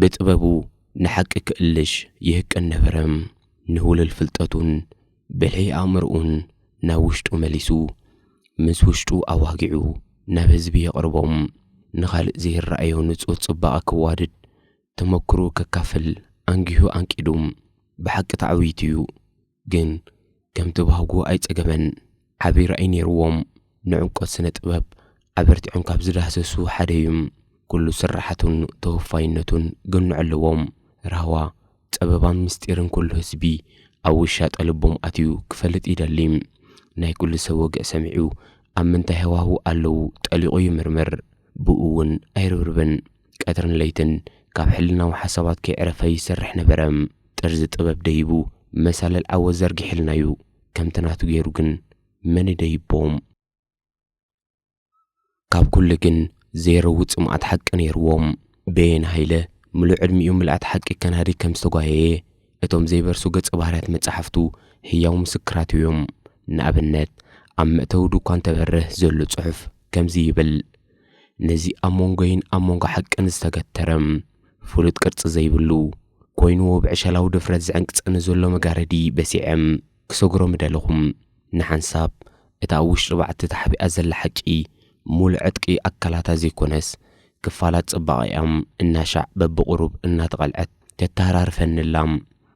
ብጥበቡ ንሓቂ ክእልሽ ይህቅን ነበረ። ንህውልል ፍልጠቱን ብልሒ ኣእምሮኡን ናብ ውሽጡ መሊሱ፣ ምስ ውሽጡ ኣዋጊዑ ናብ ህዝቢ የቕርቦ። ንኻልእ ዘይረኣዮ ንጹህ ጽባቐ ከዋድድ፣ ተመኩሮኡ ከካፍል ኣንጊሁ ኣንቂዱ። ብሓቂ ተዓዊቱ'ዩ። ግን ከም ተባህጉ ኣይጸገመን። ዓቢ ራእይ ነይርዎም። ንዕምቆት ስነ ጥበብ ኣበርቲዖም ካብ ዝዳህሰሱ ሓደ እዩ። ኩሉ ስርሓቱን ተወፋይነቱን ገኖ ዕለዎም። ራህዋ፣ ጸበባን ምስጢርን ኩሉ ህዝቢ ኣብ ውሻጠ ልቦም ኣትዩ ክፈልጥ ይደሊ። ናይ ኩሉ ሰብ ወግዒ ሰሚዑ ኣብ ምንታይ ሃዋህው ኣለዉ ጠሊቑ ይምርምር። ብእኡ እውን ኣይርብርብን። ቀትርን ለይትን ካብ ሕልናዊ ሓሳባት ከይዕረፈ ይሰርሕ ነበረ። ጥርዚ ጥበብ ደይቡ መሳልል ዓወት ዘርጊሕልና'ዩ። ከምቲ ናቱ ገይሩ ግን መን ይደይቦ? ካብ ኩሉ ግን ዘይረዊ ጽምኣት ሓቂ ነይርዎ። በየነ ሃይለ ምሉእ ዕድሚኡ ምልኣት ሓቂ ከናዲ ከም ዝተጓየየ እቶም ዘይበርሱ ገጸ ባህርያት መጻሕፍቱ ህያው ምስክራቱ'ዮም። ንኣብነት ኣብ መእተዊ ድኳን ተበርህ ዘሎ ጽሑፍ ከምዚ ይብል። ነዚ ኣብ መንጎይን ኣብ መንጎ ሓቅን ዝተገተረ ፍሉጥ ቅርጺ ዘይብሉ ኰይንዎ ብዕሸላዊ ድፍረት ዝዕንቅጸኒ ዘሎ መጋረዲ በሲዐ ክሰግሮ ምደለኹ። ንሓንሳብ እታ ኣብ ውሽጢ ባዕቲ ተሓቢኣ ዘላ ሓቂ ምሉእ ዕጥቂ ኣካላታ ዘይኰነስ ክፋላት ጽባቐኣ እናሻዕ በብቝሩብ እናተቐልዐት ተተሃራርፈኒ ኣላ።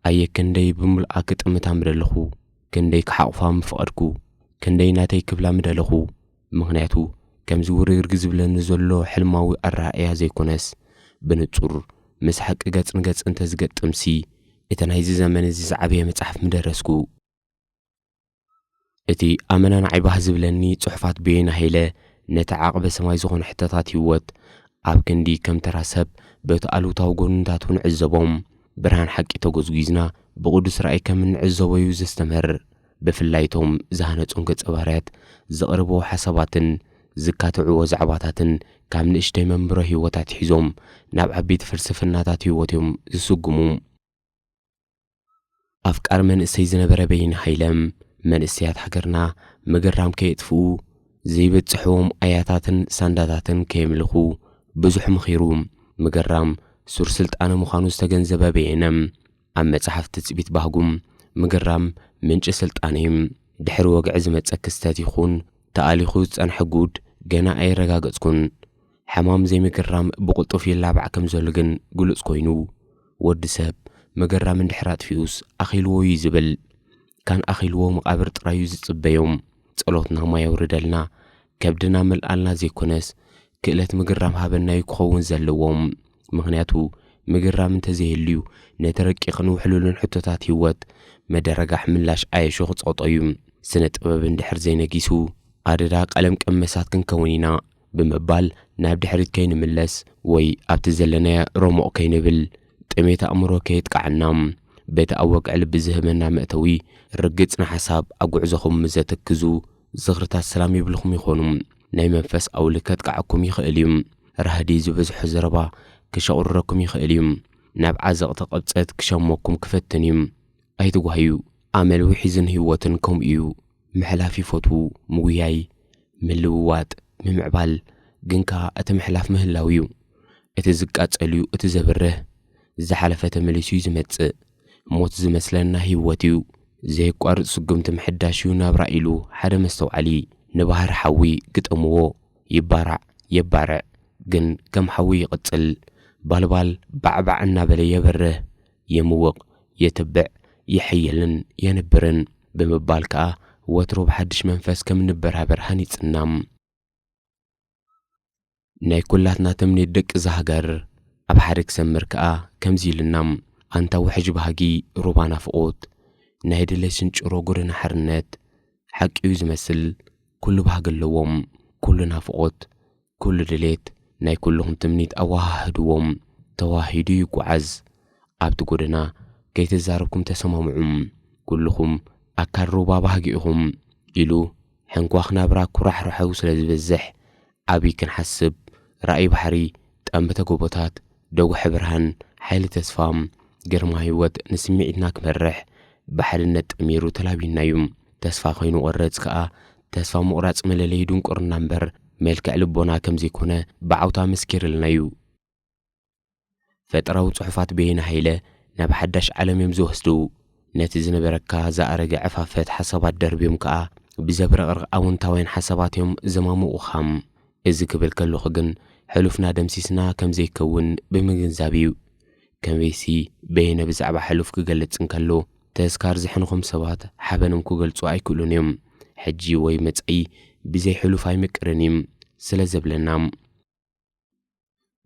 ኣየ ክንደይ ብምሉኣ ክጥምታ ምደለኹ፣ ክንደይ ክሓቝፋ ምፈቐድኩ፣ ክንደይ ናተይ ክብላ ምደለኹ። ምኽንያቱ ከምዚ ውርግርግ ዝብለኒ ዘሎ ሕልማዊ ኣረኣእያ ዘይኮነስ፣ ብንጹር ምስ ሓቂ ገጽ ንገጽ እንተ ዝገጥምሲ፣ እቲ ናይዚ ዘመን እዚ ዝዓበየ መጽሓፍ ምደረስኩ። እቲ ኣመናናዒ ባህ ዝብለኒ ጽሑፋት በየነ ሃይለ፣ ነቲ ዓቕበ ሰማይ ዝኾነ ሕቶታት ህይወት፣ ኣብ ክንዲ ከም ተራ ሰብ በቲ ኣሉታዊ ጎንታቱ ንዕዘቦም፣ ብርሃን ሓቂ ተጎዝጒዝና ብቕዱስ ራእይ ከም እንዕዘቦ'ዩ ዘስተምህር። ብፍላይ እቶም ዝሃነጹም ገጸ ባህርያት ዘቕርብዎ ሓሳባትን ዝካትዕዎ ዛዕባታትን ካብ ንእሽተይ መንብሮ ህይወት ኣትሒዞም ናብ ዓቢይቲ ፍልስፍናታት ህይወት እዮም ዝስጉሙ። ኣፍቃሪ መንእሰይ ዝነበረ በይን ሃይለ፣ መንእሰያት ሃገርና ምግራም ከየጥፍኡ፣ ዘይበጽሕዎም ኣያታትን ሳንዳታትን ከየምልኹ ብዙሕ መኺሩ። ምግራም ሱር ስልጣነ ምዃኑ ዝተገንዘበ በየነ፣ ኣብ መጽሓፍ ትጽቢት ባህጉም ምግራም ምንጪ ስልጣነይ ድሕሪ ወግዒ ዝመጸ ክስተት ይኹን ተኣሊኹ ዝጸንሐ ጉድ ገና ኣየረጋገጽኩን። ሕማም ዘይምግራም ብቕልጡፍ ይላባዕ ከም ዘሎ ግን ግሉጽ ኮይኑ፣ ወዲ ሰብ ምግራም እንድሕር ኣጥፊኡስ ኣኺልዎ'ዩ ዝብል። ካን ኣኺልዎ መቓብር ጥራዩ ዝጽበዮም ጸሎትና ማይ ኣውርደልና ከብድና መልኣልና ዘይኮነስ ክእለት ምግራም ሃበናዩ ክኸውን ዘለዎም ምኽንያቱ ምግራም እንተዘይህልዩ ነቲ ረቂቕን ውሕሉልን ሕቶታት ህይወት መደረጋሕ ምላሽ ኣየሾ ክጸቕጦዩ ስነ ጥበብ እንድሕር ዘይነጊሱ ኣደዳ ቀለም ቀመሳት ክንከውን ኢና ብምባል ናብ ድሕሪት ከይንምለስ ወይ ኣብቲ ዘለናዮ ረሞቕ ከይንብል ጥሜት ኣእምሮ ከየጥቅዓና በቲ ኣብ ወግዒ ልቢ ዝህበና መእተዊ ርግጽ ንሓሳብ ኣብ ጉዕዞኹም ምስ ዘትክዙ ዝኽርታት ሰላም ይብልኹም ይኾኑ ናይ መንፈስ ኣውሊ ከጥቅዓኩም ይኽእል እዩ ራህዲ ዝበዝሖ ዘረባ ክሸቑርረኩም ይኽእል እዩ ናብ ዓዘቕቲ ቕብጸት ክሸሞኩም ክፈትን እዩ ኣይትጓህዩ ኣመል ውሒዝን ህይወትን ከምኡ እዩ ምሕላፍ ይፈትዉ፣ ምጉያይ፣ ምልውዋጥ፣ ምምዕባል፣ ግን ከኣ እቲ ምሕላፍ ምህላው እዩ። እቲ ዝቃጸል'ዩ እቲ ዘብርህ። ዝሓለፈ ተመሊሱ'ዩ ዝመጽእ። ሞት ዝመስለና ህይወት'ዩ። ዘየቋርጽ ስጉምቲ ምሕዳሽ'ዩ ናብራ ኢሉ ሓደ መስተውዓሊ ንባህሪ ሓዊ ግጠምዎ። ይባራዕ፣ የባርዕ፣ ግን ከም ሓዊ ይቕጽል። ባልባል ባዕባዕ እናበለ የብርህ። የምውቕ፣ የተብዕ፣ የሕይልን የንብርን ብምባል ከኣ ወትሩ ብሓድሽ መንፈስ ከም እንበራበር ሃኒጽና። ናይ ኩላትና ተምኔት ደቂ'ዛ ሃገር ኣብ ሓደ ክሰምር ከኣ ከምዚ ኢሉና፣ ኣንታ ውሕጅ ባህጊ ሩባ ናፍቖት፣ ናይ ድሌት ስንጭሮ ጎደና ሓርነት፣ ሓቂ'ዩ ዝመስል ኩሉ ባህጊ ኣለዎ፣ ኩሉ ናፍቖት፣ ኩሉ ድሌት ናይ ኩሉኹም ትምኒት ኣወሃህድዎ። ተዋሂዱ ይጎዓዝ። ኣብቲ ጎደና ከይተዛረብኩም ተሰማምዑ። ኩሉኹም ኣካል ሩባ ባህጊ ኢኹም። ኢሉ ሕንኳኽ ናብራ ኩራሕራሐው ስለ ዝበዝሕ ዓብይ ክንሓስብ ራእይ ባሕሪ ጠምተ ጎቦታት ደጉሐ ብርሃን ሓይሊ ተስፋ ግርማ ህይወት ንስሚዒትና ክመርሕ ብሓድነት ጠሚሩ ተላብዩናዩ። ተስፋ ከይንቆርፅ ከኣ ተስፋ ምቑራጽ መለለዪ ድንቁርና እምበር መልክዕ ልቦና ከም ዘይኮነ ብዓውታ መስኪርልና እዩ። ፈጠራዊ ጽሑፋት በየነ ሃይለ ናብ ሓዳሽ ዓለም እዮም ዝወስዱ። ነቲ ዝነበረካ ዝኣረገ ዕፋፈት ሓሳባት ደርብዮም ከኣ ብዘብረቕርቕ ኣወንታውያን ሓሳባት እዮም ዘማሙቑኻ። እዚ ክብል ከለኹ ግን ሕሉፍና ደምሲስና ከም ዘይከውን ብምግንዛብ እዩ። ከመይሲ፣ በየነ ብዛዕባ ሕሉፍ ኪገልጽ እንከሎ፣ ተዝካር ዝሕንኹም ሰባት ሓበንም ኪገልጹ ኣይክእሉን እዮም። ሕጂ ወይ መጻኢ ብዘይ ሕሉፍ ኣይምቅርን እዩ ስለ ዘብለና።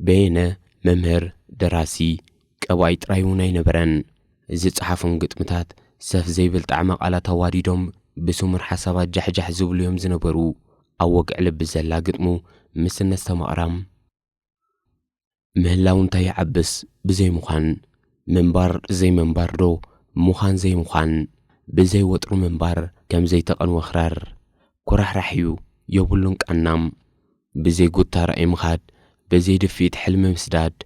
በየነ መምህር፣ ደራሲ፣ ቀባኢ ጥራይ እውን ኣይነበረን። ዝጸሓፎም ግጥምታት ሰፍ ዘይብል ጣዕመ ቃላት ኣዋዲዶም ብስሙር ሓሳባት ጃሕጃሕ ዝብሉ እዮም ዝነበሩ። ኣብ ወግዒ ልቢ ዘላ ግጥሙ ምስ እነስተማቕራ፣ ምህላው እንታይ ይዓብስ ብዘይ ምዃን ምንባር ዘይምንባርዶ ምዃን ዘይምዃን ብዘይ ወጥሩ ምንባር ከም ዘይተቐንወ ክራር ኩራሕራሕ እዩ የብሉን ቃናም ብዘይ ጉታ ራእይ ምኻድ ብዘይ ድፍኢት ሕልሚ ምስዳድ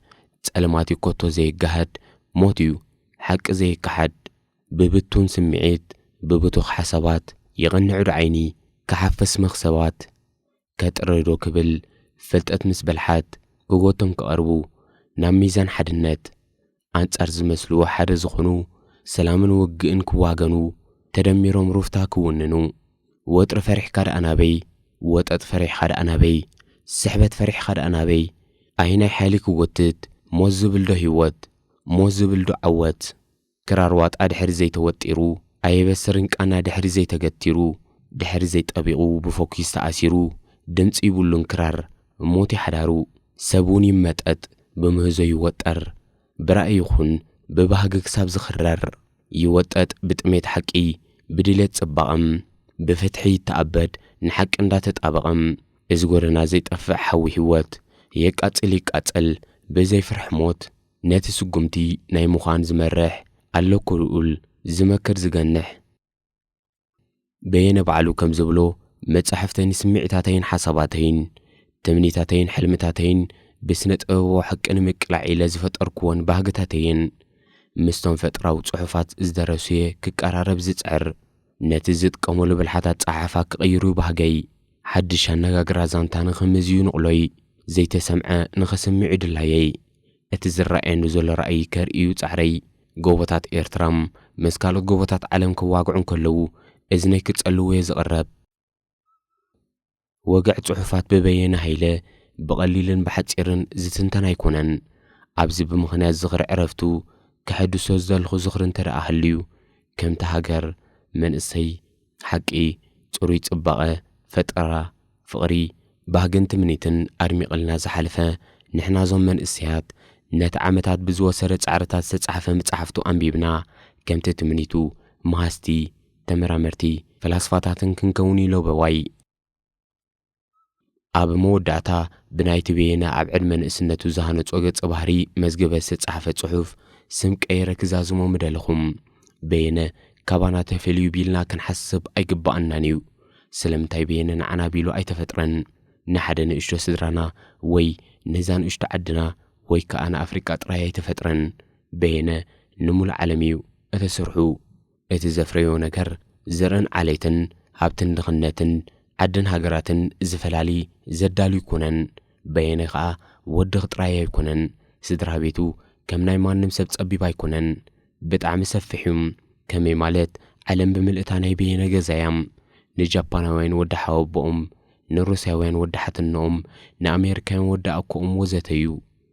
ጸልማት እዩ ኮቶ ዘይጋሃድ ሞት እዩ ሓቂ ዘይከሓድ ብብቱን ስምዒት ብብቱኽ ሓሳባት ይቐንዕዶ ዓይኒ ክሓፍስ መኽሰባት ከጥሪ ዶ ክብል ፍልጠት ምስ በልሓት ብቦቶም ክቐርቡ ናብ ሚዛን ሓድነት ኣንጻር ዝመስልዎ ሓደ ዝኾኑ ሰላምን ውግእን ክዋገኑ ተደሚሮም ሩፍታ ክውንኑ ወጥሪ ፈሪሕካ ደኣ ናበይ ወጠጥ ፈሪሕኻ ደኣ ናበይ ስሕበት ፈሪሕኻ ደኣ ናበይ ኣየናይ ሓይሊ ክጎትት ሞት ዝብል ዶ ሂወት ሞት ዝብል ዶ ዓወት ክራር ዋጣ ድሕሪ ዘይተወጢሩ ኣየበስርን ቃና ድሕሪ ዘይተገቲሩ ድሕሪ ዘይጠቢቑ ብፎኪስ ተኣሲሩ ድምጺ ይብሉን ክራር እሞት'ዩ ሓዳሩ ሰብ ውን ይመጠጥ ብምህዞ ይወጠር ብራኢ ይኹን ብባህጊ ክሳብ ዝኽረር ይወጠጥ ብጥሜት ሓቂ ብድሌት ጽባቐም ብፍትሒ ይተኣበድ ንሓቂ እንዳተጣበቐም እዚ ጎደና ዘይጠፍእ ሓዊ ሂወት የቃጽል ይቃጸል ብዘይ ፍርሒ ሞት ነቲ ስጉምቲ ናይ ምዃን ዝመርሕ፣ ኣለኩ ልኡል፣ ዝመክር ዝገንሕ። በየነ ባዕሉ ከም ዝብሎ መጻሕፍተይ ንስምዒታተይን ሓሳባተይን፣ ትምኒታተይን ሕልምታተይን ብስነ ጥበባዊ ሓቂ ንምቅላዕ ኢለ ዝፈጠርኩወን ባህግታት'የን። ምስቶም ፈጥራዊ ጽሑፋት ዝደረሱ'የ ክቀራረብ ዝጽዕር። ነቲ ዝጥቀመሉ ብልሓት ኣጸሓሕፋ ክቕይሩ ባህገይ። ሓድሽ ኣነጋግራ ዛንታ ንኽምዝዩ ንቕሎይ። ዘይተሰምዐ ንኽስምዕዩ ድላየይ። እቲ ዝረኣየኒ ዘሎ ራእይ ከርእዩ ጻዕረይ። ጎቦታት ኤርትራ ምስ ካልኦት ጎቦታት ዓለም ክዋግዑ እንከለዉ እዝነይ ክጸልዎየ ዝቕረብ። ወግዕ ጽሑፋት ብበየነ ሃይለ ብቐሊልን ብሓጺርን ዝትንተን ኣይኮነን። ኣብዚ ብምኽንያት ዝኽሪ ዕረፍቱ ከሐድሶ ዝደለኹ ዝኽሪ እንተደኣ ሃልዩ፣ ከምቲ ሃገር፣ መንእሰይ፣ ሓቂ፣ ጽሩይ ጽባቐ፣ ፈጠራ፣ ፍቕሪ፣ ባህግን ትምኒትን ኣድሚቕልና ዝሓለፈ፣ ንሕና እዞም መንእሰያት ነቲ ዓመታት ብዝወሰደ ጻዕርታት ዝተጻሕፈ ምጻሕፍቱ ኣንቢብና ከምቲ ትምኒቱ መሃዝቲ፣ ተመራመርቲ ፈላስፋታትን ክንከውን ኢሎ በዋይ። ኣብ መወዳእታ ብናይቲ በየነ ኣብ ዕድመ ንእስነቱ ዝሃነጾ ገጸ ባህሪ መዝገበ ዝተጻሕፈ ጽሑፍ ስም ቀይረ ክዛዝሞ ምደለኹ። በየነ ካባና ተፈልዩ ቢልና ክንሓስብ ኣይግበኣናን ኢዩ። ስለምንታይ በየነ ንዓና ቢሉ ኣይተፈጥረን? ንሓደ ንእሽቶ ስድራና ወይ ነዛ ንእሽቶ ዓድና ወይ ከኣ ንኣፍሪቃ ጥራይ ኣይተፈጥረን። በየነ ንሙሉእ ዓለም ኢዩ እተስርሑ። እቲ ዘፍረዮ ነገር ዘርእን ዓሌትን ሃብትን ድኽነትን ዓድን ሃገራትን ዝፈላሊ ዘዳሉ ኣይኮነን። በየነ ከኣ ወድኽ ጥራይ ኣይኮነን ስድራቤቱ ከም ናይ ማንም ሰብ ጸቢብ ኣይኮነን ብጣዕሚ ሰፍሕ እዩ ከመይ ማለት ዓለም ብምልእታ ናይ በየነ ገዛ እያ ንጃፓናውያን ወዲ ሓወቦኦም ንሩስያውያን ወዲ ሓትንኦም ንኣሜሪካውያን ወዲ ኣኮኦም ወዘተ እዩ